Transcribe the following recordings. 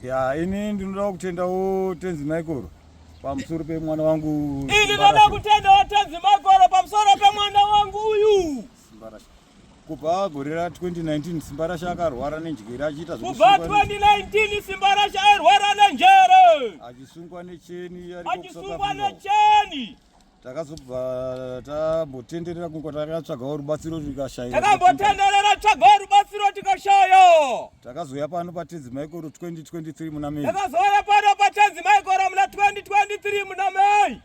ya ini ndinoda kutendawo tenzi maikoro pamusoro pemwana wangu ini ndinoda kutendawo tenzi maikoro pamusoro pemwana wangu uyu kubva gore ra 2019 simba rashe akarwara nenjere achiita kubva 2019 simba rashe airwara nenjere achisungwa necheni achisungwa necheni takazobva tambotenderera kunge takatsvagawo rubatsiro tikashaya takambotenderera tsvagawo rubatsiro tikashaya takazouya pano patenzi maikoro 2023 muna mei takazouya pano patenzi maikoro muna 2023 muna mei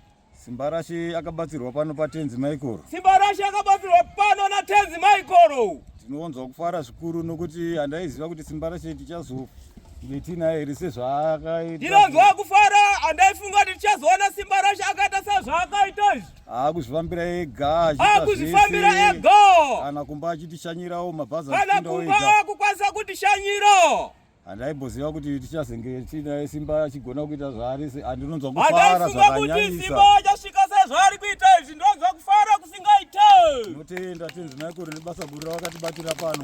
simbarashe akabatsirwa pano patenzi maikoro simbarashe akabatsirwa pano natenzi maikoro tinonzwa kufara zvikuru nokuti handaiziva kuti simbarashe tichazofa ndinonzwa kufara andaifunga kuti tichazoona simba rashe akaita sezvaakaita izvi akuzvifambira ega akuzvifambira ega kana kumba achitishanyirawo mabhazi kana kumba akukwanisa kutishanyira handaiboziva kuti tichazenge tiinaye simba achigona kuita zvaari andinonzwa kufara zvakanyanyisa achasvika sezvaari kuita izvi ndonzwa kufara kusingaite tinotenda tinzi naikuru nebasa guru rawakatibatira pano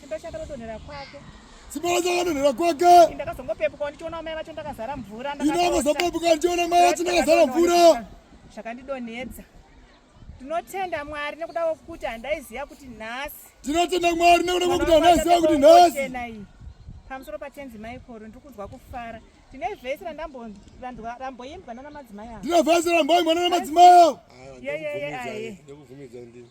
Simba chakadonhera kwake. Simba chakadonhera kwake. Ndakazongopepuka ndichiona mai vacho ndakazara mvura. Ndakazongopepuka ndichiona mai vacho ndakazara mvura. Zvakandidonhedza. Tinotenda Mwari nekuda kwekuti handaiziva kuti nhasi. Tinotenda Mwari nekuda kwekuti handaiziva kuti nhasi. Pamusoro patenzi Maikoro ndiri kunzwa kufara. Tine vhesi ramboimbwa nana madzimai avo. Tine vhesi ramboimbwa nana madzimai avo. Yeyeye aye. Ndikubvumidza ndini.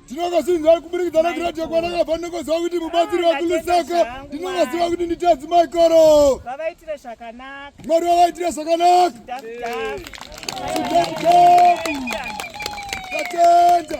ndinovasinzai kuburikidza nakuratidza kwanakabva ndinongoziva kuti mubatsiri wakulusaka ndinongoziva kuti nditi adzimai koro vavaitire zvakanaka mwari vavaitire zvakanaka tatenda